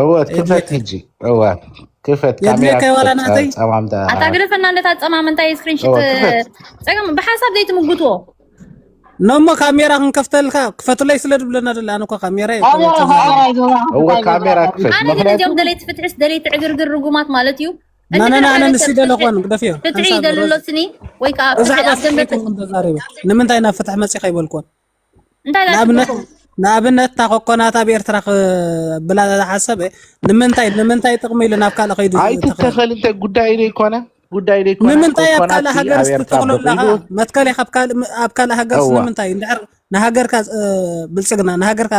እወት ክፈት ህጂ እወት ክፈት ካሜራ ጸማምታ ኣታ ግደፈና እንደታ ጸማምንታ ስክሪንሽት ጸገም ብሓሳብ ዘይትምጉትዎ ነሞ ካሜራ ክንከፍተልካ ክፈትለይ ስለ ድብለና ደለ ኣነ እኳ ካሜራ እወ ካሜራ ክፈት ኣነ ግን እዚኦም ደለይቲ ፍትሕስ ደለይቲ ዕግርግር ርጉማት ማለት እዩ ናናና ኣነ ንሲ ደለ ኮን ግደፍዮ ፍትሒ ይደልሎትኒ ወይ ከዓ ፍትሒ ኣብ ደንበ ንምንታይ ናብ ፍትሒ መፂኻ ይበልኮን እንታይ ንኣብነት ንኣብነት እታ ኮኮናት ኣብ ኤርትራ ክብላ ዝሓሰበ ንምንታይ ንምንታይ ጥቕሚ ኢሉ ናብ ካልእ ከይዱ ኣይትተኸል እንተ ጉዳይ ዘይኮነ ጉዳይ ዘይኮነ ንምንታይ ኣብ ካልእ ሃገር ዝተተኽሎ ኣለኻ መትከል ኢኻ ኣብ ካልእ ሃገር ንምንታይ እንድሕር ንሃገርካ ብልፅግና ንሃገርካ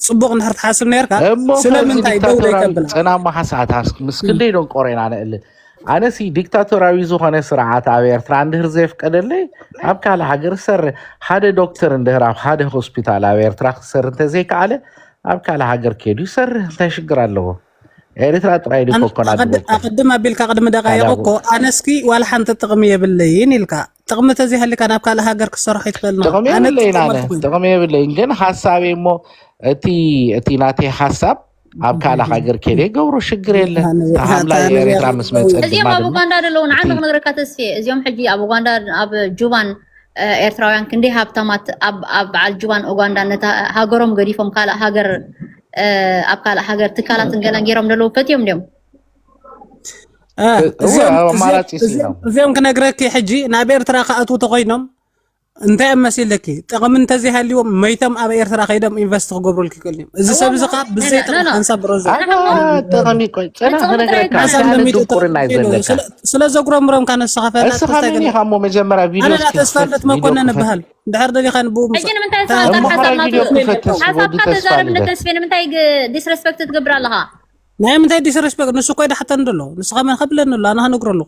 ፅቡቕ እንድሕር ትሓስብ ነርካ ስለምንታይ ደው ዘይተብላ ፀናሞ ሓሳታት ምስ ክንደይ ዶንቆሬና ንእል ኣነሲ ዲክታቶራዊ ዝኾነ ስርዓት ኣብ ኤርትራ እንድህር ዘየፍቀደለይ ኣብ ካልእ ሃገር ዝሰር ሓደ ዶክተር እንድህር ኣብ ሓደ ሆስፒታል ኣብ ኤርትራ ክሰር እንተዘይከኣለ ኣብ ካልእ ሃገር ከይዱ ይሰርህ እንታይ ሽግር ኣለዎ ኤርትራ ጥራይ ዲ ኣን- ኮኮና ኣቐድ- ድበኩ ኣቐድም ኣቢልካ ቅድሚ ደቃይቕ ካልእ እኮ ኣነስኪ ዋላ ሓንቲ ጥቕሚ የብለይን ኢልካ ጥቕሚ ተዘይሃልካ ናብ ካልእ ሃገር ክሰርሖ ይትኽእል ኖ ጥቕሚ ኣነ የብለይን ኣነ እጥቀመልኩ ጥቕሚ የብለይን ግን ሓሳበይ እሞ እቲ እቲ ናተይ ሓሳብ ኣብ ካልእ ሃገር ከደ ገብሮ ሽግር የለን ተሃምላ ኤርትራ ምስ መፀት እዚኦም ኣብ ኡጋንዳ ደለዉ ንዓንዲ ክነግረካ ተስፍየ እዚኦም ሕጂ ኣብ ኡጋንዳ ኣብ ጁባን ኤርትራውያን ክንደይ ሃብታማት ኣብ በዓል ጁባን ኡጋንዳ ነታ ሃገሮም ገዲፎም ካልእ ሃገር ኣብ ካልእ ሃገር ትካላት ገለን ገይሮም ደለዉ ፈትዮም ድዮም እዚኦም ክነግረኪ ሕጂ ናብ ኤርትራ ክኣትዉ ተኮይኖም እንታይ ኣብ መሲለኪ ጥቕሚ እንተዘይሃልዎም መይቶም ኣብ ኤርትራ ከይዶም ኢንቨስት ክገብሩልኪ ክእሉ እዮም እዚ ሰብ እዚ ከዓ ብዘይ ጥቕሚ ሓንሳብ ብረዘ ጥቕሚ ቆይ ፅናሕ ክነግረካ ሓንሳብ ሓደ ንሚእቲ ድንቁርና እዩ ዘለካ ስለ- ስለ ዘጉረምሮም ካነ ንስኻ ፈላጥ እስኻ ተስታይ መን ገለ ኢኻ እሞ መጀመርያ ቪድዮ ኣነ እስኪ ዳ ተስፋ ክፈት ልደት ቪድዮ መኮነን ክፈት እብሃል ድሕር ደሊኻ ንብኡ ምስ ሕጂ ንምንታይ ንስኻ እሞ ቃል ሓሳብ ሓራይ ቪድዮ ናቱ ክፈት ተስ ወዲ ሓሳብካ ተስፋ ተዛረብ ልደት ንተስፌ ንምንታይ ዲስረስፔክት ትገብር ኣለኻ ናይ ምንታይ ዲስረስፔክት ንሱ ኮይዳ ሓተን ደሎ ንስኻ መን ከብለኒ ኣሎ ኣነ ክነግሮ ኣለኹ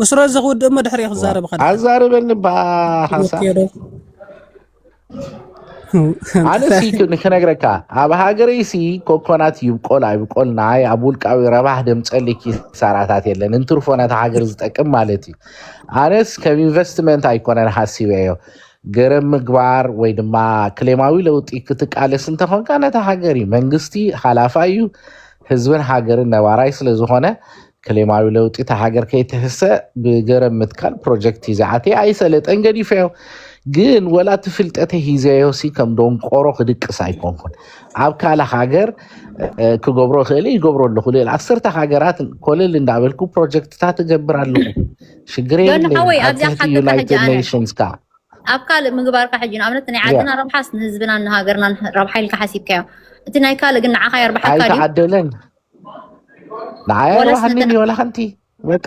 ብስረዚ ክውድእ እሞ ድሕሪኡ ክዛረብ ዋው ከድሕን ኣዛርበኒ እባ ሓንሳእ ወኪዶ ኣነ ሲ ክ- ክነግረካ ኣብ ሃገረይ ሲ ኮኮናት ይብቆል ኣይብቆል ናይ ኣብ ውልቃዊ ረባህ ደምፀሊ ኪሳራታት የለን እንትርፎ ነታ ሃገር ዝጠቅም ማለት እዩ ኣነስ ከም ኢንቨስትመንት ኣይኮነን ሃሲበዮ ገረብ ምግባር ወይ ድማ ክሌማዊ ለውጢ ክትቃለስ እንተኾንካ ነታ ሃገር እዩ መንግስቲ ሓላፋ እዩ ህዝብን ሃገርን ነባራይ ስለዝኾነ ክሌማዊ ለውጢ እታ ሃገር ከይትህሰ ብገረብ ምትካል ፕሮጀክት እዩ ዝዓተየ ኣይሰለጠን ገዲፈዮ ግን ወላ እቲ ፍልጠተ ሂዘዮሲ ከም ዶንቆሮ ክድቅስ ኣይኮንኩን ኣብ ካልእ ሃገር እ፣ ክገብሮ ክእል ይገብሮ ኣለኹ ልል ዓሰርተ ሃገራት ኮለል እንዳበልኩ ፕሮጀክትታት እገብር ኣለኹ ሽግር ዮኒ የብለይን ሓወይ ኣብ ኣብዚኣ ትሕቲ ሓተካ ሕጂ ዩናይትድ ኣነ ኔሽንስ ከዓ ኣብ ካልእ ምግባርካ ሕጂ ንኣብነት ናይ ያ ዓድና ረብሓስ ንህዝብናን ንሃገርናን ረብሓ ኢልካ ሓሲብካዮ እቲ ናይ ካልእ ግን ንዓኻ የርብሓካ ድዩ ኣይተዓደለን ንዓይ ወላ ኣይረብሓኒን ስልጠና እዩ ዋላ ሓንቲ በቃ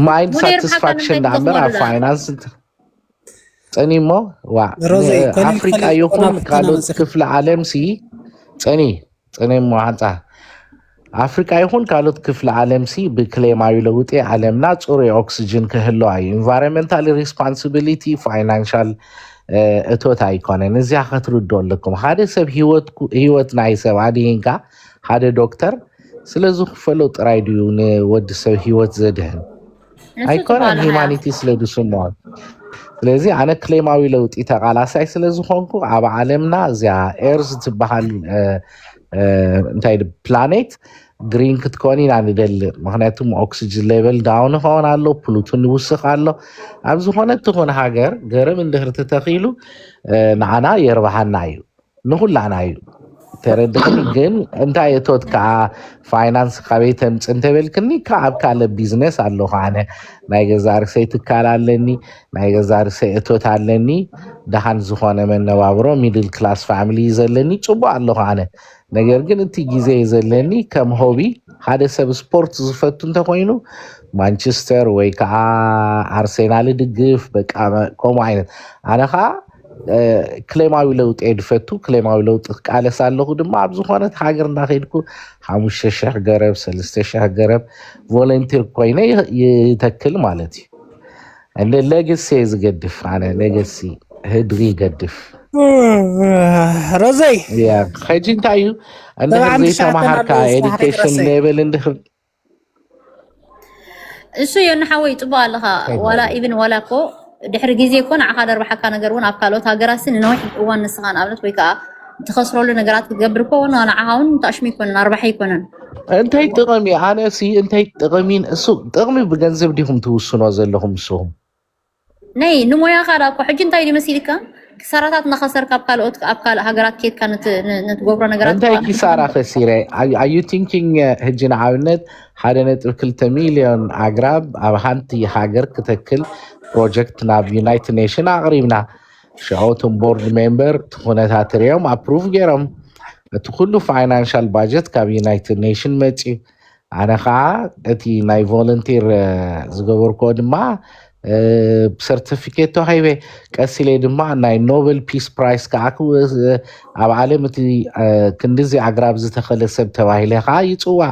ማይንድ ሙኔር ብሓንሳብ ሳትስፋክሽን እንታይ ትገብሩ ንኣምበር ኣብ ኣሉላ ፋይናንስ ፀኒ እሞ ዋዕ ሮዚ ኮሊል ኣፍሪቃ ኮሊል ይኹን ቆናፍርተና ካልኦት መፅኺ ክፍለ ዓለም ሲ ፀኒ ፀኒ እሞ ሓንፃ ኣፍሪቃ ይኹን ካልኦት ክፍለ ዓለም ሲ ብክሌማዊ ለውጢ ዓለምና ፅሩይ ኦክስጅን ክህልዋ እዩ ኢንቫይሮንመንታል ሪስፖንሲቢሊቲ ፋይናንሻል እ፣ እቶት ኣይኮነን እዚያ ከትርድኦ ኣለኩም ሓደ ሰብ ህይወትኩ ህይወት ናይ ሰብ ኣድሂንካ ሓደ ዶክተር ስለ ዝኽፈሎ ጥራይ ድዩ ንወዲ ሰብ ህይወት ዘድህን ንሱ ኣይኮነን ትባልሃያ ሂማኒቲ ስለ ዝስምዖ ስለዚ ኣነ ክሌማዊ ለውጢ ተቃላሳይ ስለ ዝኾንኩ ኣብ ዓለምና እዚያ ኤርዝ ትበሃል እ፣ እ፣ እንታይ ድ- ፕላኔት ግሪን ክትኮኒ ኢና ንደሊ ምክንያቱ ኦክስጅን ሌቨል ዳውን ይኸውን ኣሎ ፕሉቱን ይውስኽ ኣሎ ኣብ ዝኾነት ትኹን ሃገር ገርም እንድህር ተተኺሉ እ፣ ንዓና የርብሓና እዩ ንኩላና እዩ ተረድኽኒ ግን እንታይ እቶት ከዓ ፋይናንስ ካበይ ተምፅ እንተበልክኒ ካብ ኣብ ካልእ ቢዝነስ ኣለኹ ኣነ ናይ ገዛ ርሰይ ትካል ኣለኒ ናይ ገዛ ርሰይ እቶት ኣለኒ ደሃን ዝኾነ መነባብሮ ሚድል ክላስ ፋሚሊ እዩ ዘለኒ ፅቡቅ ኣለኹ ኣነ ነገር ግን እቲ ግዜ እዩ ዘለኒ ከም ሆቢ ሓደ ሰብ ስፖርት ዝፈቱ እንተኮይኑ ማንቸስተር ወይ ከዓ ኣርሴናል ድግፍ በቃ ከምኡ ዓይነት ኣነ ከዓ እ፣ ክሌማዊ ለውጢ እየ ድፈቱ ክሌማዊ ለውጢ ክቃለስ ኣለኹ ድማ ኣብ ዝኾነት ሃገር እንዳኸድኩ ሓሙሽተ ሽሕ ገረብ ሰለስተ ሽሕ ገረብ ቮለንቲር ኮይነ ይ- ይተክል ማለት እዩ ለ- ለግሲ እየ ዝገድፍ ኣነ ለገሲ ህድሪ ይገድፍ ረዘይ እያ ሕጂ እንታይ እዩ እንድሕር ሰብዓን ትሽዓተን ዘይተምሃርካ ኣለዉ ዝመሃሪት ኤዱኬሽን ረሰይ ሌቨል እንድሕር እሱ እዮ ንሓወይ ፅቡቅ ኣለካ እንታይ ዋላ ማለት እዩ ኢብን ዋላ እኮ ድሕሪ ግዜ እኮ ንዓካ ደርብሓካ ነገር እውን ኣብ ካልኦት ሃገራት ንነዊሕ እዋን ንስካ ንኣብነት ወይ ከዓ ትኸስረሉ ነገራት ክትገብር እኮ ን ንዓኻ እውን ታሽሙ ኣይኮነን ኣርባሒ ኣይኮነን እንታይ ጥቕሚ ኣነ ሲ እንታይ ጥቕሚ እሱ ጥቕሚ ብገንዘብ ዲኹም ትውስኖ ዘለኹም ንስኹም ናይ ንሞያኻ ዳ እኮ ሕጂ እንታይ መሲልካ ክሳራታት እናኸሰርካ ኣብ ካልኦት ኣብ ካልእ ሃገራት ኬድካ ንትገብሮ ነገራት እንታይ ኪሳራ ከሲረ ኣዩ ቲንኪንግ ሕጂ ንኣብነት ሓደ ነጥቢ ክልተ ሚልዮን ኣግራብ ኣብ ሃንቲ ሃገር ክተክል ፕሮጀክት ናብ ዩናይትድ ኔሽን ኣቕሪብና ሸውቶም ቦርድ ሜምበር እቲ ኩነታት ርዮም ኣፕሩቭ ገይሮም እቲ ኩሉ ፋይናንሻል ባጀት ካብ ዩናይትድ ኔሽን መፅዩ ኣነ ከዓ እቲ ናይ ቮለንቲር ዝገበርክዎ ድማ ሰርቲፊኬት ተዋሂበ ቀስ ኢለ ድማ ናይ ኖበል ፒስ ፕራይስ ከዓ ኣብ ዓለም እቲ ክንዲዚ ኣግራብ ዝተኸለ ሰብ ተባሂለ ከዓ ይፅዋዕ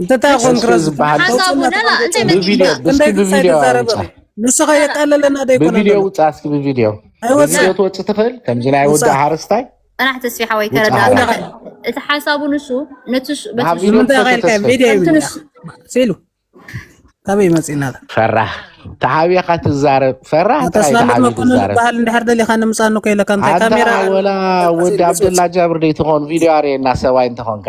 እንተታይ ኮንክ ረዝ ሓሳቡ ላላ እንታይ ብቪድዮ ብስኪ ብቪድዮ ውፃ ንስኻ የቃለለና ደይኮነ ብቪድዮ ውፃ እስኪ ብቪድዮ ብቪድዮ ትወፅእ ትኽእል ከምዚ ናይ ወዲ ሓረስታይ ጥራሕ ተስፊ ሓወይ ተረዳ እቲ ሓሳቡ ንሱ ነቲ ሉ ካበይ መፅእና ፈራህ ተሓቢኻ ትዛረብ ፈራህ ተስፋለት መኮንን ዝበሃል እንድሕር ደሊኻ ንምፃኑ ከይለካ ካሜራ ወላ ወዲ ኣብደላ ጃብር ደይትኾን ቪድዮ ኣርእየና ሰብኣይ እንተኾንካ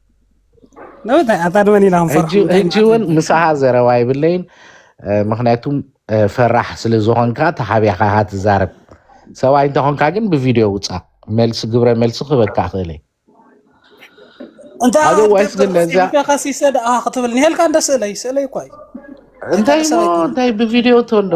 ሕጂ እውን ምሳኻ ዘረባ ይብለይን ምክንያቱ ፈራሕ ስለ ዝኾንካ ተሓቢኻ ኢኻ ትዛረብ ሰብኣይ እንተኾንካ ግን ብቪድዮ ውፃ መልሲ ግብረ መልሲ ክህበካ ክእል እንታይ ዋይስ ግን ነዛ ክትብል ኒሄልካ እንደ ስእለይ ስእለይ እኳ እንታይ እንታይ ብቪድዮ ተንዶ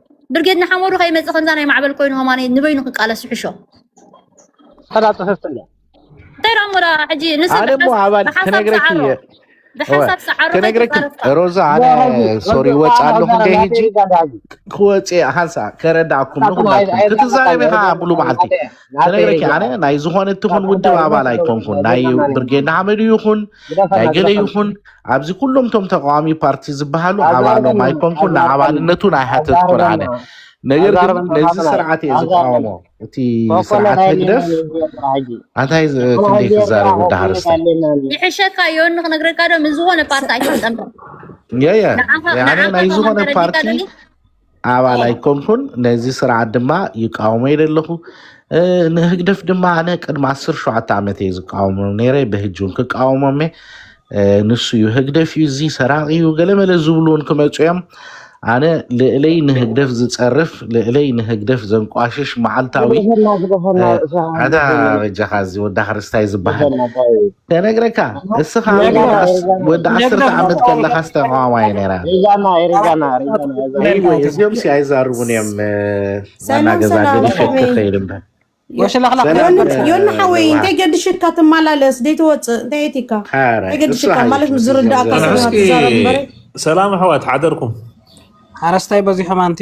ብርጌድ ንሓመዱ ከይመፅእ ከምዛ ናይ ማዕበል ኮይኑ ሆማነይ ንበይኑ ክቃለስ ይሕሾ ሕዳ ፅፍፍት እንዳ እንታይ ዳሞ ዳ ሕጂ ንሰብ ኣነ እሞ ኣባል ብሓሳብ ክነግረኪ ሰዓሮ እየ ብሓሳብ ሰዓሮ ክነግረኪ ከይተፃረፍካ ሮዛ ኣነ ሶሪ ወፅ ኣለኹ እንደ ሕጂ ክወፅ እየ ሓንሳ ከረዳእኩም ንኩላትኩም ክትዛረቢ ከዓ ሙሉ መዓልቲ ክነግረኪ ኣነ ናይ ዝኾነ እትኹን ውድብ ኣባል ኣይኮንኩን ናይ ብርጌድ ንሓመዱ ይኹን ናይ ገለ ይኹን ኣብዚ ኩሎም ቶም ተቃዋሚ ፓርቲ ዝበሃሉ ኣባሎም ኣይኮንኩን ንኣባልነቱን ኣይሓተትኩን ኣነ ነገር ግን ነዚ ስርዓት እየ ዝቃወሞ እቲ ስርዓት ህግደፍ ኣንታይ ክንደይ ክዛረብ ወዲ ሃርስተ ይሕሸካ ዮኒ ክነግረካ ዶ ምስ ዝኾነ ፓርቲ ኣይትጠምር የየ ኣነ ናይ ዝኾነ ፓርቲ ኣባል ኣይኮንኩን ነዚ ስርዓት ድማ ይቃወሞ ኢለ ኣለኹ እ፣ ንህግደፍ ድማ ኣነ ቅድሚ 17 ዓመት እየ ዝቃወሞ ነይረ ብህጂ እውን ክቃወሞም እየ እ፣ ንሱ እዩ ህግደፍ እዩ እዚ ሰራቂ እዩ ገለመለ ዝብሉ እውን ክመፁ እዮም ኣነ ልእለይ ንህግደፍ ዝፀርፍ ልእለይ ንህግደፍ ዘንቋሽሽ መዓልታዊ ዝበዘሐና ዝበዘሐና እ፣ ርእሲ ኣታ ኣለኩም በጃኻ እዚ ወዳ ክርስታይ ዝበሃል ዝበዘሐና ታይ ከነግረካ እስኻ ወዲ ዓሰርተ ዓመት ከለኻስ ተቃዋማይ ነራ እዚኦም ሲ ኣይዛርቡን እዮም ናገዛ ገዲፈት ክኸይድ እምበር ዮኒ ሓወይ እንታይ ገድሽካ ትመላለስ ዘይትወፅእ እንታይ የትካ እንታይ ገድሽካ ማለት ምስ ዝርዳእካ ሰላም ኣሕዋት ሓደርኩም ሓረስታይ በዚሖም ኣንቲ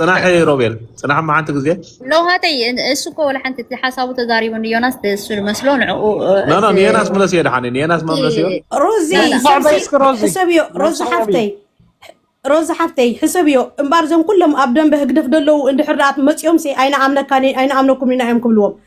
ፅናሕ ሮቤል ፅናሕ መዓንቲ ግዜ ለውሃተይ እሱ እኮ ወላ ሓንቲ እቲ ሓሳቡ ተዛሪቡ ንዮናስ እሱ መስሎ ንዕኡ ንዮናስ ምለስ እየ ድሓኒ ንዮናስ መምለስ እዮ ሮዚ ሕሰብዮ ሮዚ ሓፍተይ ሮዚ ሓፍተይ ሕሰብዮ እምበር እዞም ኩሎም ኣብ ደንበ ህግደፍ ደለዉ እንድሕር መፂኦም ሲ ኣይንኣምነካን ኣይንኣምነኩም ኢና እዮም ክብልዎም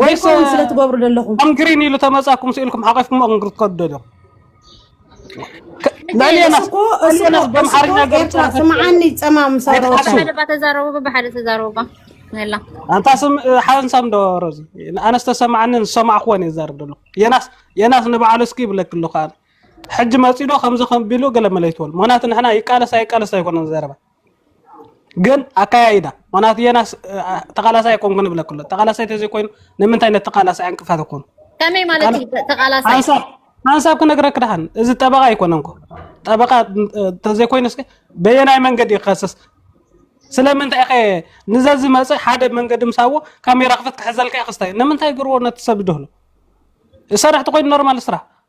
ወይ ኮን ስለ ትገብሩ ዘለኹም ኣንግሪን ኢሉ ተመጻኩም ስኢልኩም ሓቂፍኩም ኣንግሪ ትከዱ ዶ ናሊያና እኮ እሱ በምሓርኛ ገርጻ ስምዓኒ ጸማም ሰሮታ ሓደባ ተዛረቡ ብሓደ ተዛረቡ ነላ ኣንታ ስም ሓንሳም ዶ ሮዚ ኣነስ ተሰማዓኒ ዝሰማዕኩዎን እየ ዛርብ ደሎ የናስ የናስ ንበዓሉ እስኪ ይብለክ ኣለኹ ኣነ ሕጂ መጺዶ ከምዚ ከም ቢሉ ገለ መለይትወል ምክንያቱ ንሕና ይቃለስ ኣይቃለስ ኣይኮነን ዘረባ ግን ኣካያይዳ ምክንያቱ የናስ ተቃላሳይ ኣይኮንኩ ንብለ ክሎ ተቃላሳይ ተዘይኮይኑ ንምንታይ ነቲ ተቃላሳይ ዕንቅፋት ኮኑ ከመይ ማለት እዩ ተቃላሳይ ሓንሳብ ሓንሳብ ክነግረክ ድሓን እዚ ጠበቃ ኣይኮነን ኮ ጠበቃ ተዘይኮይኑ እስከ በየናይ መንገዲ እዩ ክኸስስ ስለምንታይ ከ ንዘ ዝመፅእ ሓደ መንገዲ ምሳዎ ካሜራ ክፍት ክሕዘልካ እዩ ክስታይ ንምንታይ ግርዎ ነቲ ሰብ ድህሎ ሰራሕቲ ኮይኑ ኖርማል ስራሕ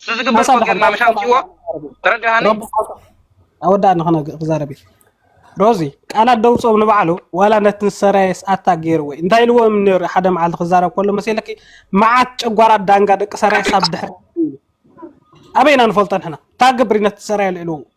እሱ ዝግበር እኮ ጌርና ምሽ ኣምፅዎ ተረዳሃኒ ኣወዳእ ንክነ ክዛረብ እዩ ሮዚ ቃላት ደውፆም ንባዕሉ ዋላ ነቲ ሰራየስ ኣታ ገይርዎ እንታይ ኢልዎ እዮም ነይሩ ሓደ መዓልቲ ክዛረብ ከሎ መሲለኪ መዓት ጨጓራት ዳንጋ ደቂ ሰራየስ ኣብ ድሕሪ ኣበይና ንፈልጦ ንሕና እታ ግብሪ ነቲ ሰራየ ልዕልዎ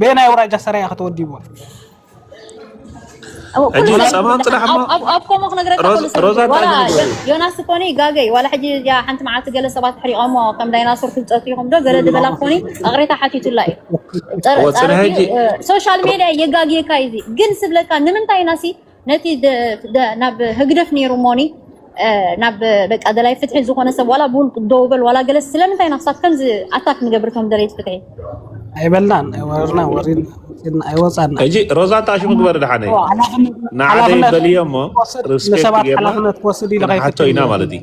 በየናይ ኣውራጃ ሰራያ ከተወዲብዎ ዮናስ ኮኒ ይጋገይ ዋላ ሕጂ ሓንቲ መዓልቲ ገለ ሰባት ሕሪቆሞ ከም ዳይናሶር ፍልጠት ይኹም ዶ ገለ ዝበላ ኮኒ ኣቕሬታ ሓቲቱላ እዩ ሶሻል ሜድያ የጋግየካ እዩ ግን ስብለካ ንምንታይ ናሲ ነቲ ናብ ህግደፍ ነይሩ ሞኒ ናብ በቃ ደላይ ፍትሒ ዝኾነ ሰብ ዋላ ብውልቁ ደው በል ዋላ ገለስ ስለምንታይ ኢና ክሳብ ከምዚ ኣታክ ንገብር እቶም ደለይቲ ፍትሒ ኣይበልናን ወርና ወሪን ወፂና ኣይወፃና ሕጂ ሮዛ ታሽ ምግበር ድሓነይ ንዓደይ በልዮ እሞ ርስፔክት ጌርና ንሓቶ ኢና ማለት እዩ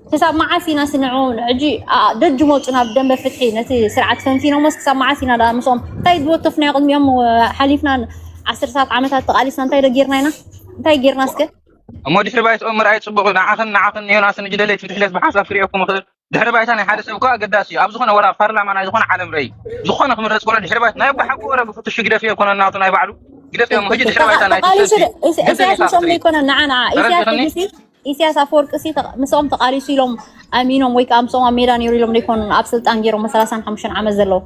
ክሳብ መዓስ ኢና ስንዑ ሕጂ ደጅ መፁ ናብ ደንበ ፍትሒ ነቲ ስርዓት ፈንፊኖሞስ ክሳብ መዓስ ኢና ዳ ምስኦም እንታይ ዝወከፍናዮ ቅድሚኦም ሓሊፍና ዓሰርታት ዓመታት ተቓሊስና እንታይ ዶ ጌርና ኢና እንታይ ጌርና እስከ እሞ ድሕሪ ባይትኦም ምርኣይ ጽቡቕ እዩ። ንዓኽን ንዓኽን ንዮናስን ንጅደለይ ትምትሕለት ብሓሳብ ክርእየኩም እኽእል። ድሕሪ ባይታ ናይ ሓደ ሰብ እኮ ኣገዳሲ እዩ። ኣብ ዝኾነ ወላ ኣብ ፓርላማ ናይ ዝኾነ ዓለም ረይ ዝኾነ ክምረጽ ከሎ ድሕሪ ባይታ ናይ ኣቦ ሓቂ ወረ ብፍትሹ ግደፍ እየ ኮነ ናቱ ናይ ባዕሉ ግደፍ እዮም። ሕጂ ድሕሪ ባይታ ናይ ተቃሊሱ ኢሳያስ ምስኦም ዘይኮነ ንዓ ንዓ ኢሳያስ ኢሰያስ ኣፈወርቂሲ ምስኦም ተቃሊሱ ኢሎም ኣሚኖም ወይ ከኣ ምስኦም ኣብ ሜዳ ነይሩ ኢሎም ዶ ኣይኮኑን ኣብ ስልጣን ገይሮሞ ሰላሳን ሓሙሽተን ዓመት ዘለዉ?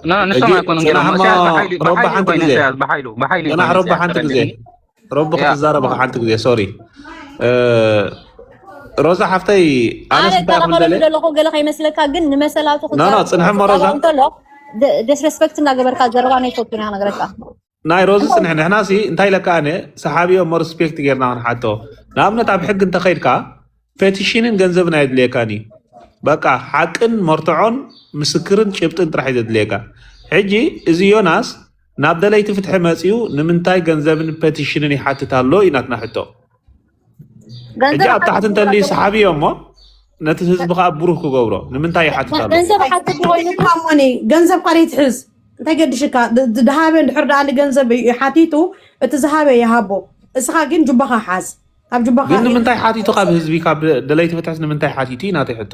ና ንሶም ሕጂ ኣይኮኑን ገይሮሞ ጽናሕማ ኢሰያስ ብሓይሊ ሮባ ብሓይሊ ሓንቲ ኮይኑ ግዜ ኢሰያስ ብሓይሉ ብሓይሊ እዩ ጽናሕ ኮይኑ ሮባ ኢሰያስ ሓንቲ ግዜ ተረድእኒ ሮቢ ያ ክትዛረበኻ ሓንቲ ግዜ ሶሪ ሮዛ ሓፍተይ ኣነስ ኣነ እንታይ እኮ እከላኸለሉ ምበለ ዘለኹ ገለ ከይመስለካ ግን ንመሰላቱ ኖ ኖ ክዛረብ ጽንሕሞ ሮዛ ክቃለዖ እንተሎ ደስረስፐክት እንዳገበርካ ዘረባ ናይ ፈቱን ኢና ነገረካ ናይ ሮዚ ፅንሕ ንሕና ሲ እንታይ ኢለ ከኣነ ሰሓቢዮ እሞ ሪስፔክት ጌርና ክንሓቶ ንኣብነት ኣብ ሕጊ እንተኸይድካ ፔቲሽንን ገንዘብን ኣየድልየካን እዩ በቃ ሓቅን መርትዖን ምስክርን ጭብጥን ጥራሕ እዩ ዘድልየካ ሕጂ እዚ ዮናስ ናብ ደለይቲ ፍትሒ መፅኡ ንምንታይ ገንዘብን ፔቲሽንን ይሓትት ኣሎ እዩ ናትና ሕቶ ሕጂ ኣብ ታሕቲ እንተልዩ ሰሓቢ እዮም እሞ ነቲ ህዝቢ ከዓ ብሩህ ክገብሮ ንምንታይ ይሓትት ኣሎ ገንዘብ ሓትት ኮይኑ ካሞኒ ገንዘብ ቃል ይትሕዝ እንታይ ገድሽካ ድ- ድ- ድሃበ እንድሕር ደኣ ንገንዘብ እዩ ሓቲቱ እቲ ዝሃበ ይሃቦ እስኻ ግን ጁባኻ ሓዝ ካብ ጁባኻ ግን ንምንታይ ሓቲቱ ካብ ህዝቢ ካብ ደለይቲ ፍትሕስ ንምንታይ ሓቲቱ እዩ ናተይ ሕቶ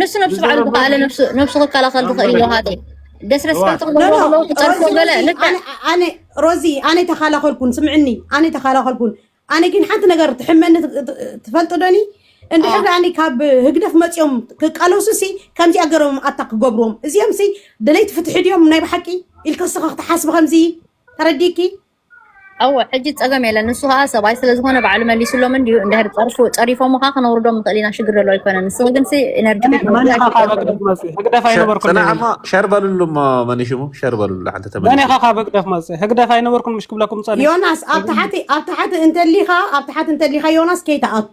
ንሱ ነብሱ ባዕሉ ዝዘረብ ዝኸኣለ ነብሱ ነብሱ ክከላኸል ዝኽእል እዩ ኣንበረከ ሃደይ ዲስረስፔክት እዋት ኖ ክገብርዎ ኖ ከለዉ ክጸርፎ ሮዚ ገለ ሮዚ ኣነ ልክዕ ኣነ ሮዚ ኣነ ተኻላኸልኩን ስምዕኒ ኣነ ተኻላኸልኩን ኣነ ግን ሓንቲ ነገር ትሕመኒ ት- ት- ትፈልጡ ዶኒ ኣ እንድሕር ደኣኒ ካብ ህግደፍ መፂኦም ክቃለሱ ሲ ከምዚኣ ገሮም ኣታ ክገብርዎም እዚኦም ሲ ደለይቲ ፍትሒ ድዮም ናይ ብሓቂ ኢልካ ስኻ ክትሓስቢ ከምዚ ተረዲእኪ እወ ሕጂ ጸገም የለን ንሱ ከኣ ሰብኣይ ስለ ዝኾነ ባዕሉ መሊስሎም እንድዩ እንድሕር ጸርፉ ጸሪፎምኻ ክነውርዶም ንኽእል ኢና ሽግር ዘሎ ኣይኮነን ንስኺ ግን ሲ ኤነርጂ መን ክትነውሪ መን ኢኻ ካብ ኣይትኽእልን ህግደፍ መጽኢ ህግደፍ ሸ- ኣይነበርኩን ጽናዕ እሞ ይብል ሸር በልሉ እሞ መን ሽሙ ሸር በልሉ ሓንቲ መን ተመሊሱ ኢኻ ካብ ህግደፍ መጽኢ ህግደፍ ኣይነበርኩን ምሽ ክብለኩም ጸኒሑ ዮናስ ኣብ ተሓቲ ኣብ ተሓቲ እንተሊኻ ኣብ ተሓቲ እንተሊኻ ዮናስ ከይትኣቱ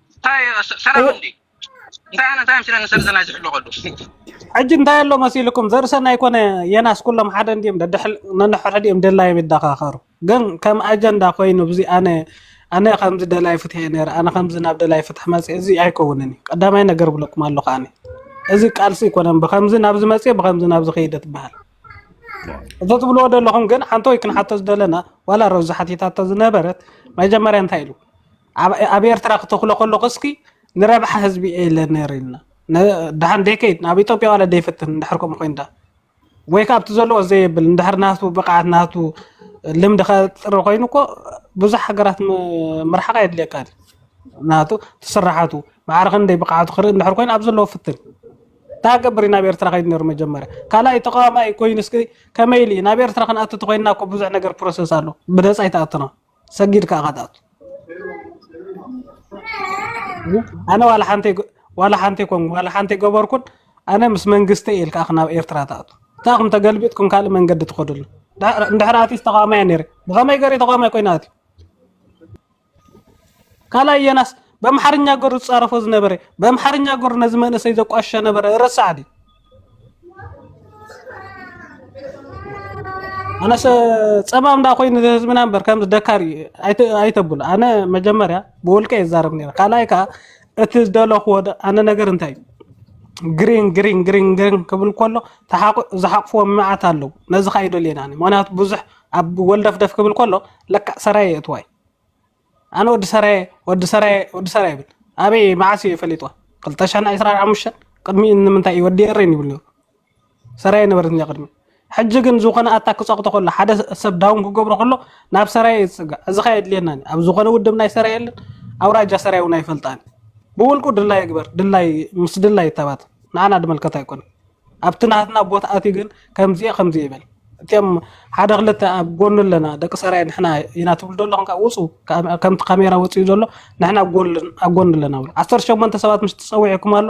ሕጂ እንታይ ኣሎ መሲልኩም ዘርሰናይ ኮነ የናስ ኩሎም ሓደ እንዲም ነንሕድሕዲኦም ደላዮም ይዳኻኸሩ ግን ከም ኣጀንዳ ኮይኑ እዚ ኣነ ኣነ ከምዚ ደላይ ፍትሒ እየ ነረ ኣነ ከምዚ ናብ ደላይ ፍትሒ መፅ እዚ ኣይከውንን እዩ ቀዳማይ ነገር ብለኩም ኣለኹ ኣነ እዚ ቃልሲ ኣይኮነን ብከምዚ ናብዚ መፅ ብከምዚ ናብዚ ከይደ ትበሃል እቶ ትብልዎ ዘለኹም ግን ሓንቶ ወይ ክንሓቶ ዝደለና ዋላ ረብዚ ሓቲታቶ ዝነበረት መጀመርያ እንታይ ኢሉ ኣብ ኣብ ኤርትራ ክተክሎ ከለኩ እስኪ ንረብሓ ህዝቢ እየ ኢለ ነይረ ኢልና ድሓን ደይከይድ ናብ ኢትዮጵያ ዋላ ደይፈትን እንድሕር ከምኡ ኮይንዳ ወይ ከዓ ኣብቲ ዘለዎ ዘየብል እንድሕር ናቱ ብቕዓት ናቱ ልምዲ ከጥሪ ኮይኑ እኮ ብዙሕ ሃገራት ምርሓቕ የድልየካ ናቱ ትስራሓቱ ማዕረ ክንደይ ብቕዓቱ ክርኢ እንድሕር ኮይኑ ኣብ ዘለዎ ፍትን ታገብሪ ናብ ኤርትራ ከይድ ነይሩ መጀመርያ ካልኣይ ተቃዋማይ ኮይኑ እስኪ ከመይ ኢሉ እዩ ናብ ኤርትራ ክንኣቱ ተኮይንና እኮ ብዙሕ ነገር ፕሮሰስ ኣሎ ብነፃ ይተኣቱና ሰጊድካ ኢኻ ትኣቱ ኣነ ዋላ ሓንቲ ዋላ ሓንቲ ኮን ዋላ ሓንቲ ገበርኩን ኣነ ምስ መንግስቲ እየ ኢልካ ናብ ኤርትራ ትኣቱ እታኹም ተገልቢጥኩም ካልእ መንገዲ ትኸድሉ እንድሕር ኣትዩስ ተቃዋማይ ነይረ ብኸመይ ገሪ ተቃዋማይ ኮይና ኣትዩ ካልኣይ የናስ በምሓርኛ ገሩ ዝፃረፎ ዝነበረ በምሓርኛ ገሩ ነዚ መንእሰይ ዘቋሸ ነበረ ረሳዕ ድዩ ኣነሰ ፀባ እንዳ ኮይኑ ህዝብና እምበር ከምዚ ደካሪ ኣይተብሉ ኣነ መጀመርያ ብውልቀ ይዛረብ ነረ ካልኣይ ከዓ እቲ ዝደለኽዎ ኣነ ነገር እንታይ እዩ ግሪን ግሪን ግሪን ግሪን ክብል ከሎ ዝሓቕፍዎ መዓት ኣለዉ ነዚ ከዓ ይደልየና ምክንያቱ ብዙሕ ኣብ ወልደፍደፍ ክብል ከሎ ለካ ሰራየ የእትዋይ ኣነ ወዲ ሰራየ ወዲ ሰራየ ወዲ ሰራየ ይብል ኣበይ መዓስ እዩ ፈሊጥዋ ክልተ ሽሕን ዕስራን ሓሙሽተን ቅድሚኡ ንምንታይ እዩ ወዲ ኤረን ይብሉ ሰራየ ነበረት እንጃ ቅድሚ ሕጂ ግን ዝኾነ ኣታ ክፀቕጦ ከሎ ሓደ ሰብ ዳውን ክገብሮ ከሎ ናብ ሰራየ ይፅጋዕ እዚ ኸ የድልየናን ኣብ ዝኾነ ውድብ ናይ ሰራየ የለን ኣውራጃ ሰራየ እውን ኣይፈልጣን ብውልቁ ድላይ ይግበር ድላይ ምስ ድላይ ይተባት ንዓና ድመልከት ኣይኮነን ኣብቲ ናትና ቦታ ኣትዩ ግን ከምዚ'የ ከምዚ'የ ይበል። እትም ሓደ ክልተ ኣብ ጎኑ ኣለና ደቂ ሰራየ ንሕና ኢና ትብሉ ዘለኹም ካብ ውጹ ከምቲ ካሜራ ወጺኡ ዘሎ ንሕና ኣብ ጎኑ ኣብ ጎኑ ኣለና ብሉ። 18 ሰባት ምስ ትጸውዒኩም ኣሎ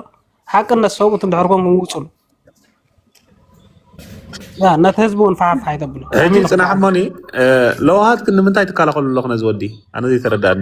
ሓቅነት ሰብኡት እንድሕር ኮንኩም ውጹሉ። ያ ነቲ ህዝቢ እውን ፋሕፋሕ ይተብሎ ሕጂ ጽናሕ እሞኒ ለውሃት ንምንታይ ትከላኸሉ ኣለኹ ነዚ ወዲ ኣነ ዘይተረዳእኒ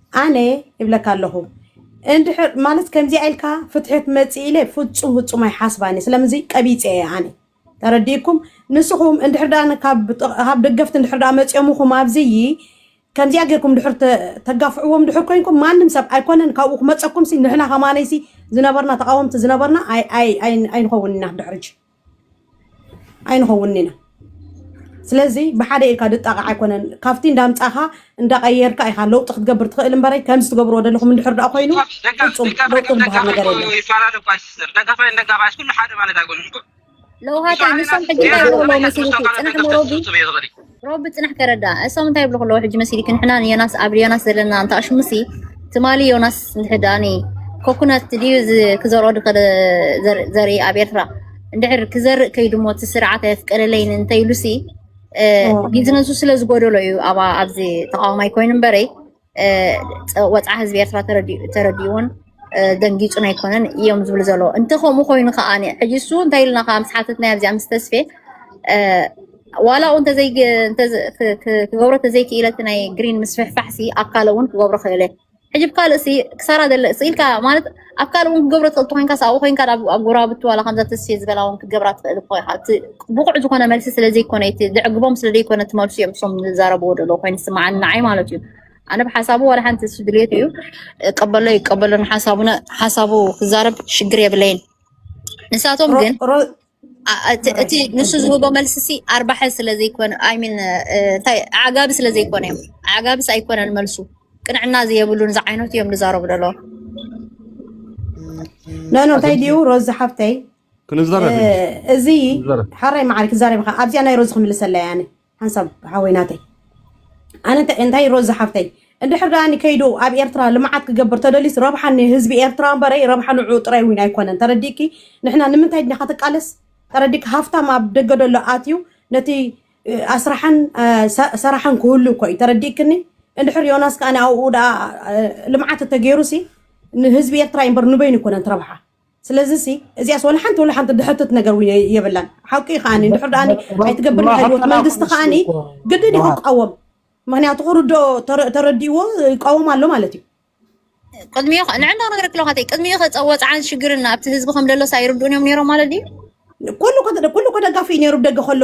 ኣነ ይብለካ ኣለኹ እንድሕር ማለት ከምዚኣ ኢልካ ፍትሒ ክመፅእ ኢለ ፍፁም ፍፁም ኣይሓስባን እየ ስለምዚ ቀቢፀ እየ ኣነ ተረዲእኩም ንስኹም እንድሕር ዳ ካብ ጥቕ- ካብ ደገፍቲ እንድሕር ዳ መፅዮምኹም ኣብዚይ ከምዚኣ ጌርኩም ድሕር ተ- ተጋፍዕዎም ድሕር ኮንኩም ማንም ሰብ ኣይኮነን ካብኡ ክመፀኩም ሲ ንሕና ከማነይ ሲ ዝነበርና ተቃወምቲ ዝነበርና ኣይ- ኣይ- ኣይ- ኣይንኸውን ኢና ድሕርጂ ኣይንኸውንን ኢና ስለዚ ብሓደ ኢልካ ድጣቕዕ ኣይኮነን ካብቲ እንዳምፃኻ እንዳቐየርካ ኢኻ ለውጢ ክትገብር ትኽእል እምበረይ ከምዚ ትገብርዎ ዘለኹም እንድሕር ደኣ ኮይኑ ፍፁም ለውጢ ዝበሃል ነገር የለን ይፈላለ እኳ ይስስር ደጋፋይ እንደጋፋይ ኩሉ ሓደ ማለት ኣይኮነን እኮ ለውሃታ ንሶም ሕጂ እንታይ ይብሉ ኣለዉ መሲልኪ ፅናሕ ሞሮቢ ሮቢ ጽናሕ ከረዳ እሶም እንታይ ይብሉ ከለዉ ሕጂ መሲልኪ ንሕና ንዮናስ ኣብ ዮናስ ዘለና እንተ ኣሽሙሲ ትማሊ ዮናስ ንሕዳኒ ኮኩናት ድዩ ክዘርኦ ድኸደ ዘርኢ ኣብ ኤርትራ እንድሕር ክዘርእ ከይዱ ሞ እቲ ስርዓት ኣየፍቀደለይን እንተይሉሲ ቢዝነሱ ስለ ዝጎደሎ እዩ ኣብ ኣብዚ ተቃዋማይ ኮይኑ እምበረይ ወፅዓ ህዝቢ ኤርትራ ተረዲኡዎን ደንጊፁን ኣይኮነን እዮም ዝብሉ ዘለዎ እንተ ከምኡ ኮይኑ ከዓ ሕጂ እሱ እንታይ ኢልና ከዓ ምስ ሓተትናዮ ኣብዚኣ ምስ ተስፌ ዋላ ው ክገብሮ ተዘይክኢለ እቲ ናይ ግሪን ምስፍሕፋሕሲ ኣካለ እውን ክገብሮ ክእለ ሕጂ ብካልእ ክሳራ ዘለ ስኢልካ ማለት ኣብ ካልእ እውን ክገብሮ ትኽእል ተኮይንካስ ኣብኡ ኮንካ ናብ ኣብ ጎረባብቲ ዋላ ከምዛ ተስፌ ዝበላ እውን ክትገብራ ትኽእል እኮ ኢኻ እቲ ብቑዕ ዝኾነ መልሲ ስለ ዘይኮነ እቲ ዘዕግቦም ስለ ዘይኮነ እቲ መልሱ እዮም እሶም ዝዛረብዎ ደሎ ኮይኑ ዝስምዓኒ ንዓይ ማለት እዩ ኣነ ብሓሳቡ ዋላ ሓንቲ እሱ ድልየት እዩ ቀበሎ ይቀበሎ ንሓሳቡነ ሓሳቡ ክዛረብ ሽግር የብለይን ንሳቶም ግን ኣ- እቲ እቲ ማራኪ ንሱ ከምቲ ዝህቦ ዝገለጽ መልሲ ሲ ኣርባሐ ስለ ዘይኮነ ኣይ ሚን እንታይ ዓጋቢ ስለ ዘይኮነ እዮም ዓጋብስ ኣይኮነን መልሱ ቅንዕና ዘየብሉን ዝዓይነቱ እዮም ዝዛረቡ ደለዎ ኖ ኖ እንታይ ድዩ ኣግኝቼ ሮዚ ሓፍተይ እ፣ ክንዛረብ ሕጂ እዚ ክንዛረብ ሓራይ መዓር ክዛረብ ኢኻ ኣብዚኣ ናይ ሮዚ ክምልሰላ እየ ኣነ ሓንሳብ ሓወይ ናተይ ኣነ እንታይ እንታይ ሮዛ ሓፍተይ እንድሕር ደኣኒ ከይዱ ኣብ ኤርትራ ልምዓት ክገብር ተደልዩስ ረብሓ ንህዝቢ ኤርትራ እምበረይ ረብሓ ንዕኡ ጥራይ እውን ኣይኮነን ተረዲእኪ ንሕና ንምንታይ ድና ከትቃለስ ተረዲእኪ ሃፍታም ኣብ ደገ ደሎ ኣትዩ ነቲ ኣስራሕን ሰራሕን ክህሉ እኮ እዩ ተረዲእክኒ እንድሕር ዮናስ ከኣ ኣብኡ ደኣ ልምዓት እተገይሩሲ ንህዝቢ ኤርትራ እምበር ንበይኑ ኣይኮነን ትረብሓ ስለዚ ሲ እዚኣስ ወላ ሓንቲ ወላ ሓንቲ ድሕትት ነገር እውን የ- የብላን ሓቂ እዩ ከዓኒ እንድሕር ደኣኒ ኣይትገብር ናይ ህይወት ንረክበና መንግስቲ ክንሱ ከዓኒ እኮ ግድን እዩ ንዋት ክቃወም ምክንያቱ ክርዶ ተረዲእዎ ይቃወም ኣሎ ማለት እዩ ቅድሚኡ ኸ- ንዕንዳ ነገር ክለካ ተይ ቅድሚኡ ከፀ ወፅዓን ሽግርን ኣብቲ ህዝቢ ከም ደሎስ ኣይርድኡን እዮም ነይሮም ማለት ድዩ ኩሉ ኮ- ኩሉ እኮ ደጋፊ እዩ ነይሩ ብደገ ከሎ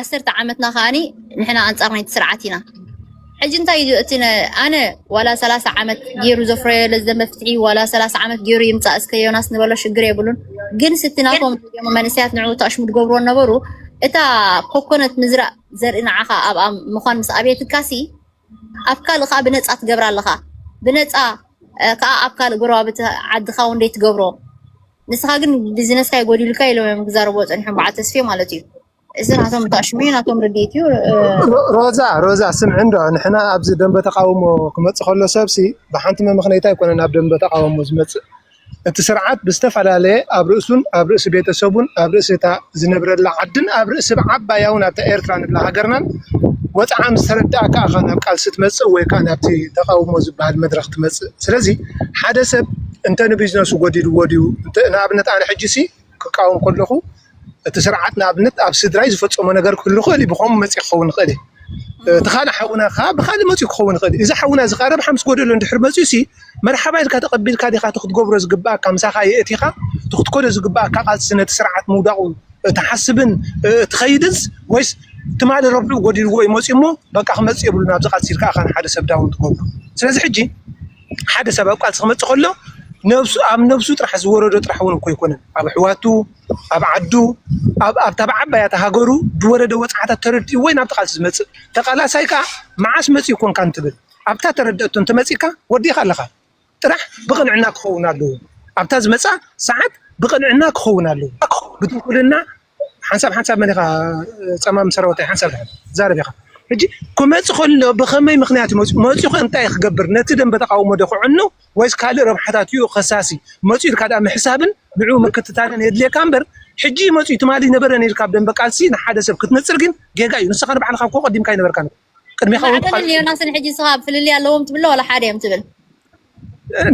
ዓሰርተ ዓመትና ከኣ ንሕና ኣንጻር ናይቲ ስርዓት ኢና። ሕጂ እንታይ እዩ እቲ ኣነ ዋላ ሰላሳ ዓመት ገይሩ ዘፍረዮ ለዘ መፍትሒ ዋላ ሰላሳ ዓመት ገይሩ ይምጻእ እስከ ዮናስ ንበሎ ሽግር የብሉን። ግን ስቲ ናቶም መንእሰያት ንዕኡ ተኣሽሙ ድገብርዎ ነበሩ እታ ኮኮነት ምዝራእ ዘርኢ ንዓኻ ኣብኣ ምዃን ምስ ኣብየትካሲ ኣብ ካልእ ከዓ ብነፃ ትገብራ ኣለኻ ብነፃ ከዓ ኣብ ካልእ ጎረባብቲ ዓድኻ እውን ደይ ትገብሮ ንስኻ ግን ቢዝነስካ ይጎዲልካ ኢሎም እዮም ክዛረብዎ ፀኒሖም በዓል ተስፌ ማለት እዩ እዚ ናቶም ጣሽሙ እዩ፣ ናቶም ርድኢት እዩ። ሮ- ሮዛ ሮዛ ስምዒ እንዶ ንሕና ኣብዚ ደንበ ተቃውሞ ክመፅእ ከሎ ሰብሲ ብሓንቲ መምኽነይታ ኣይኮነን ኣብ ደንበ ተቃውሞ ዝመፅእ እቲ ስርዓት ብዝተፈላለየ ኣብ ርእሱን ኣብ ርእሲ ቤተሰቡን ኣብ ርእሲ እታ ዝነብረላ ዓድን ኣብ ርእሲ ብዓባያውን ኣብታ ኤርትራ ንብላ ሃገርናን ወፅዓ ምስ ተረድኣካ ኢኻ ናብ ቃልሲ ትመፅእ ወይ ከዓ ናብቲ ተቃውሞ ዝበሃል መድረኽ ትመፅእ ስለዚ ሓደ ሰብ እንተ ንቢዝነሱ ጎዲልዎ ድዩ እንተ ንኣብነት ኣነ ሕጂ ሲ ክቃወም ከለኹ እቲ ስርዓት ንኣብነት ኣብ ስድራይ ዝፈፀሞ ነገር ክህሉ ይኽእል እዩ። ብኸምኡ መፂኡ ክኸውን ይኽእል እዩ። እቲ ካልእ ሓውና ከዓ ብኻልእ መፂኡ ክኸውን ይኽእል እዩ። እዚ ሓውና እዚ ከዓ ረብሓ ምስ ጎደሎ እንድሕር መፂኡ ሲ መርሓባ ኢልካ ተቐቢልካ ዲኻ እቲ ክትገብሮ ዝግበኣካ ምሳኻ የእቲኻ እቲ ክትከዶ ዝግበኣካ ቃልሲ ነቲ ስርዓት ምውዳቑ ትሓስብን ትኸይድንስ ወይስ ትማሊ ረብሕኡ ጎዲልዎ እዩ መፂኡ እሞ በቃ ክመፅእ የብሉን ኣብዚ ቃልሲ ኢልካ ኢኻ ንሓደ ሰብ ዳውን ትገብሮ። ስለዚ ሕጂ ሓደ ሰብ ኣብ ቃልሲ ክመጽእ ከሎ ነብሱ ኣብ ነብሱ ጥራሕ ዝወረዶ ጥራሕ እውን እኮ ኣይኮነን ኣብ ኣሕዋቱ ኣብ ዓዱ ኣብ ኣብታ ብዓባያ እታ ሃገሩ ዝወረደ ወጽዓታት ተረዲኡ ወይ ናብቲ ቃልሲ ዝመጽእ ተቃላሳይ ከዓ መዓስ መጽኡ ኮንካ እንትብል ኣብታ ተረድአቶ እንተመጺእካ ወዲእካ ኣለኻ ጥራሕ ብቅንዕና ክኸውን ኣለዎ ኣብታ ዝመጽኣ ሰዓት ብቅንዕና ክኸውን ኣለዎ ብትንኩልና ሓንሳብ ሓንሳብ መን ኢኻ ጸማም ሰራዊታይ ሓንሳብ ድሓን ትዛረብ ኢኻ ሕጂ ክመጽእ ከሎ ብኸመይ ምኽንያት መጽኡ መጽኡ ከ እንታይ ክገብር ነቲ ደንበ ተቃውሞ ዶ ክዕኑ ወይስ ካልእ ረብሓታት እዩ ከሳሲ መጽኡ ኢልካ ድኣ ምሕሳብን ንዕኡ ምክትታልን የድልየካ እምበር ሕጂ መጽኡ ትማሊ ነበረ ነይርካ ኣብ ደንበ ቃልሲ ንሓደ ሰብ ክትነጽር ግን ጌጋ እዩ ንስኻ ንባዕልኻ እኮ ቀዲምካ ኣይነበርካን እኮ ቅድሜኻ እውን ማዕበልን ክሓልፉ ዮናስን ሕጂ ንስኻ ፍልልይ ኣለዎም ትብሎ ዋላ ሓደ እዮም ትብል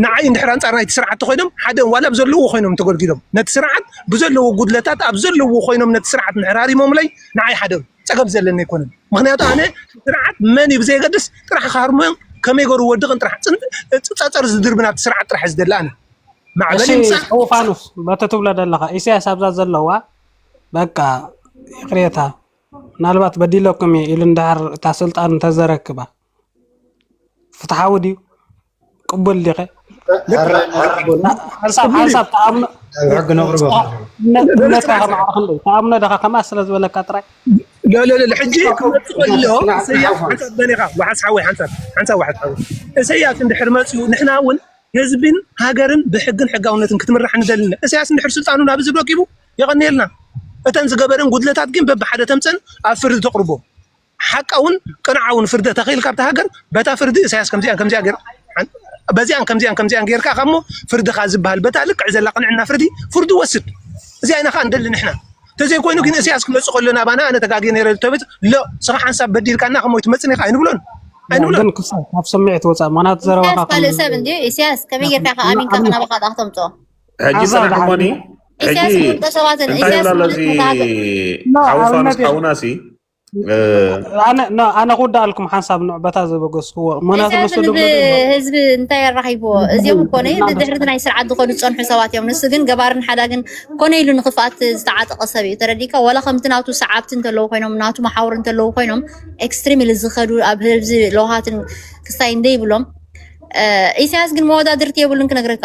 ንዓይ እንድሕር ኣንጻር ናይቲ ስርዓት ተኮይኖም ሓደ ዋላ ኣብ ዘለዎ ኮይኖም ተጎልጊሎም ነቲ ስርዓት ብዘለዎ ጉድለታት ኣብ ዘለዎ ኮይኖም ነቲ ስርዓት እንድሕር ሃሪሞምለይ ንዓይ ሓደ እዮም። ጸገም ዘለኒ ኣይኮነን ምክንያቱ ኣነ ስርዓት መን እዩ ብዘየገድስ ጥራሕ ክሃርሞም ከመይ ገሩ ወድቕን ጥራሕ ጽን- ጽ- ጸጸር ዝድርቢ ናብቲ ስርዓት ጥራሕ እዩ ዝደሊ ኣነ ማዕበል እሺ ይምጻእ እስጢፋኖስ በቲ ትብሎ ዘለኻ ኢሳያስ ኣብዛ ዘለዋ በቃ ይቕሬታ ምናልባት በዲለኩም እየ ኢሉ እንድሕር እታ ስልጣን እንተዘረክባ ፍትሓዊ ድዩ ቅቡል ዲኸ ሓንሳብ ተኣምኖ ተኣምኖ ደኻ ከምኣ ስለ ዝበለካ ጥራይ ሕጂ ክመፅእ ከሎ እሰያስ ሓንሳብ በሊኻ ዋሓስ ሓወይ ሓንሳብ ሓንሳብ ዋሓስ ሓወይ እሰያስ እንድሕር መፅኡ ንሕና እውን ህዝብን ሃገርን ብሕግን ሕጋውነትን ክትምራሕ ንደሊ እሰያስ እንድሕር ስልጣኑ ናብ ህዝቢ ረኪቡ የቐንየልና። እተን ዝገበረን ጉድለታት ግን በብሓደ ተምጽእን ኣብ ፍርዲ ተቕርቦ። ሓቃውን ቅንዓውን ፍርደ ተኸኢልካ ኣብታ ሃገር በታ ፍርዲ እሳያስ ከምዚኣን ከምዚኣ ገይርካ በዚኣን ከምዚኣን ከምዚኣን ገይርካ እሞ ፍርድኻ ዝበሃል በታ ልክዕ ዘላ ቅንዕና ፍርዲ ፍርዱ ወስድ እዚኣ ኢና ከዓ ንደሊ ንሕና ተዘይኮይኑ ግን እሳያስ ክመፅእ ከሎ ናባና ኣነ ተጋግየ ነይረ ተበፅ ሎ ስኻ ሓንሳብ በዲልካና ከሞይ ትመፅን ኢኻ ኣይንብሎን ኣይንብሎን ካብ ስምዒት ወፃእ ምክንያቱ ዘረባኻ ካልእ ሰብ እንዲ እሳያስ ከመይ ጌርካ ኢኻ ኣሚንካ ክናባኻ ዳኣ ክተምፅኦ ሕጂ ፅናሕ እሞኒ ሕጂ እንታይ ይብላ ኣሎ እዚ ሓውፋ ምስ ሓውና ሲ ኣነ ክውዳኣልኩም ሓንሳብ ንዕበታ ዘበገስክዎ ምክንያቱ ንሱ ህዝቢ እንታይ ኣራኪብዎ እዚኦም ኮነ ድሕርቲ ናይ ስርዓት ዝኮኑ ዝፀንሑ ሰባት እዮም ንሱ ግን ገባርን ሓዳግን ኮነ ኢሉ ንክፍኣት ዝተዓጠቀ ሰብ እዩ ተረዲካ ዋላ ከምቲ ናቱ ሰዓብቲ እንተለዉ ኮይኖም ናቱ መሓውር እንተለዉ ኮይኖም ኤክስትሪምሊ ዝከዱ ኣብ ህዝቢ ለውሃትን ክስታይ እንደይብሎም ኢሳያስ ግን መወዳድርቲ የብሉን ክነግረካ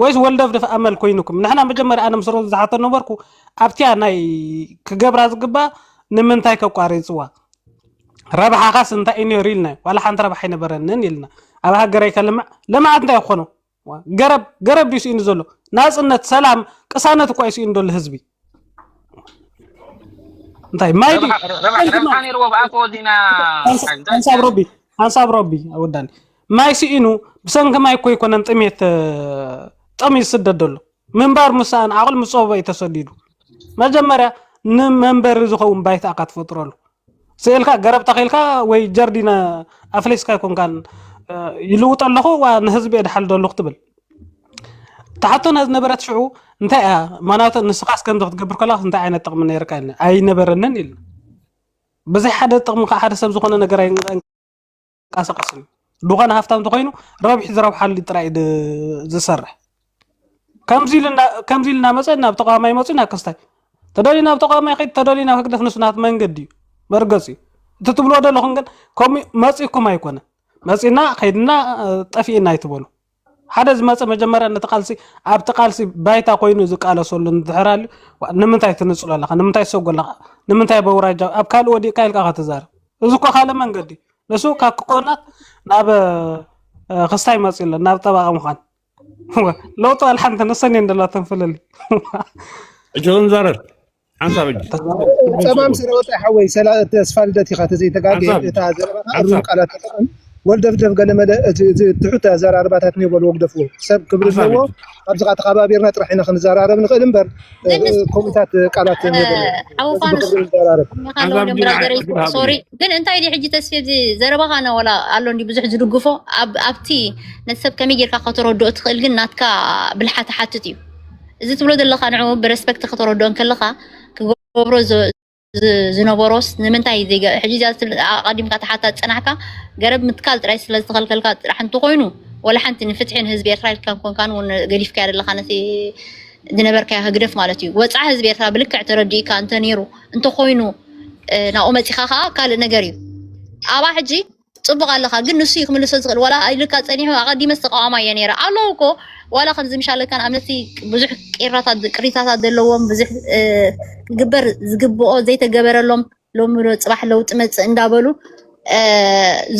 ወይስ ወልደፍደፍ ኣመል ኮይኑኩም ንሕና መጀመርያ ኣነ ምስ ሮዚ ዝሓቶ ነበርኩ ኣብቲያ ናይ ክገብራ ዝግባእ ንምንታይ ከቋሪፅዋ ረብሓኻስ እንታይ እዩ ነይሩ ኢልና ዋላ ሓንቲ ረብሓ ኣይነበረንን ኢልና ኣብ ሃገረይ ከልምዕ ልምዓት እንታይ ይኾኑ ገረብ ገረብ ድዩ ስኢኑ ዘሎ ናፅነት ሰላም ቅሳነት እኳ እዩ ስኢኑ ዘሎ ህዝቢ እንታይ ማይ ድዩ ረብሓ ረ- ረብሓ ሓንቲ ረብሓ ማይ ነይርዎ ብኣኮ ወዲና ሓንሳ- ሓይ እንታይ ሓንሳብ ሮቢ ሓንሳብ ሮቢ ወዳኒ ማይ ስኢኑ ብሰንኪ ማይ እኮ ኣይኮነን ጥሜት እ፣ ጠምዩ ዝስደድ ዘሎ ምንባር ምሳኣን ዓቕሉ ምስ ፀበበ እዩ ተሰዲዱ መጀመርያ ንመንበሪ ዝኸውን ባይታ እካ ትፈጥረሉ ስእልካ ገረብ ተኺልካ ወይ ጀርዲን ኣፍሊስካ ኣይኮንካን ይልውጦ ኣለኹ ዋ ንህዝቢ የድሓልዶ ኣለኹ ትብል ትሓቶና ዝነበረት ሽዑ እንታይ እያ ማናቱ ንስኻስ ከምዚ ክትገብር ከለካ እንታይ ዓይነት ጥቕሚ ነይርካ ኢልና ኣይነበረንን ኢልና ብዘይ ሓደ ጥቕሚ ከዓ ሓደ ሰብ ዝኾነ ነገር ዝንቀሳቀስ እዩ ድኾነ ሃፍታም ተኮይኑ ረብሒ ዝረብሓሉ ጥራይ ዝሰርሕ ከምዚ ኢሉ እናመፀ ናብ ተቃዋማይ መፅኡ ናብ ክስታይ ተደልዩ ናብ ተቃዋማይ ከይድ ተደልዩ ናብ ህግደፍ ንሱ ናት መንገዲ እዩ መርገፂ እዩ እቲ ትብልዎ ዘለኹም ግን ከምኡ መፂእኩም ኣይኮነ መፂና ከይድና ጠፊእና ኣይትበሉ ሓደ ዝመጸ መጀመርያ ነቲ ቃልሲ ኣብቲ ቃልሲ ባይታ ኮይኑ ዝቃለሰሉ እንድሕር ኣልዩ ንምንታይ ትንጽሎ ኣለኻ ንምንታይ ትሰጎ ኣለኻ ንምንታይ በውራጃ ኣብ ካልእ ወዲቕካ ኢልካ ከተዛርብ እዚ እኮ ካልእ መንገዲ ንሱ ካብ ክቆናት ናብ ክስታይ መጽ ኣሎ ናብ ጠባቂ ምዃን ለውጡ ኣልሓንቲ ንሰን እየን ደላተን ፍልል ሕጂ ክንዛረብ ሓንሳብ ሕጂ ትርጉም ጸማም ስእሉ ስለ ወጸ ሓወይ ሰላ ተስፋ ልደት ኢኻ ተዘይተጋገ ሓንሳብ ሕጂ እታ ዘረባኻ እሩም ሓንሳብ ቃላት ተጠቐም ወልደፍደፍ ገለመለ እቲ እቲ ትሑት ኣዘራርባታት እኒኦ በልዎ ግደፍዎ ሰብ ክብሪ ሓንሳብ ኣለዎ ሕጂ ካብዚኻ ተኸባቢርና ጥራሕ ኢና ክንዘራረብ ንኽእል እምበር እ፣ ግን እ፣ ከምኡታት ቃላት እኒኦ በልዎ ስለዚ ሓወፋንስ ብኽብሪ ንዘራረብ እኒኻ ሓንሳብ ኣለውሎም ሕጂ ናይ ብራዘረይ ዕድል ሃብኒ ሶሪ ግን እንታይ ድዩ ሕጂ ተስፌ እዚ ዘረባኻ ነ ወላ ኣሎ እንዲ ብዙሕ ዝድግፎ ኣብ ኣብቲ ነቲ ሰብ ከመይ ጌርካ ከተረድኦ ትኽእል ግን ናትካ ብልሓት ሓትት እዩ እዚ ትብሎ ዘለካ ንዕኡ ብረስፐክት ከተረድኦ እንከለካ ክገብሮ ዝነበሮስ ንምንታይ ዘይገ ሕጂ እዚኣ ኣቐዲምካ ተሓታ ዝጸናሕካ ገረብ ምትካል ጥራይ ስለ ዝተኸልከልካ ጥራሕ እንተኾይኑ ወላ ሓንቲ ንፍትሒ ንህዝቢ ኤርትራ ኢልካ ኮንካን እውን ገዲፍካዮ ዘለካ ነቲ ዝነበርካዮ ህግደፍ ማለት እዩ ወፃዓ ህዝቢ ኤርትራ ብልክዕ ተረዲእካ እንተ ነይሩ እንተኾይኑ ናብኡ መፂኻ ከዓ ካልእ ነገር እዩ ኣብኣ ሕጂ ጽቡቅ ኣለኻ ግን ንሱ እዩ ክምልሶ ዝኽእል ዋላ ኢሉካ ጸኒሑ ኣቀዲመስ ተቃዋማይ እየ ነይረ ኣለዉ እኮ ዋላ ከምዚ ምሻለካን ኣምነቲ ብዙሕ ቂራታት ቅሪታታት ዘለዎም ብዙሕ ክግበር ዝግብኦ ዘይተገበረሎም ሎሚ ዶ ጽባሕ ለውጢ መጽእ እንዳበሉ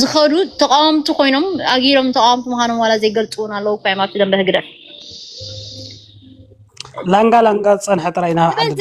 ዝኸዱ ተቃወምቲ ኮይኖም ኣጊሮም ተቃወምቲ ምዃኖም ዋላ ዘይገልጽውን ኣለዉ እኮ እዮም ኣብቲ ደንበ ህግደፍ ላንጋ ላንጋ ዝጸንሐ ጥራይ ናብ ዓዲ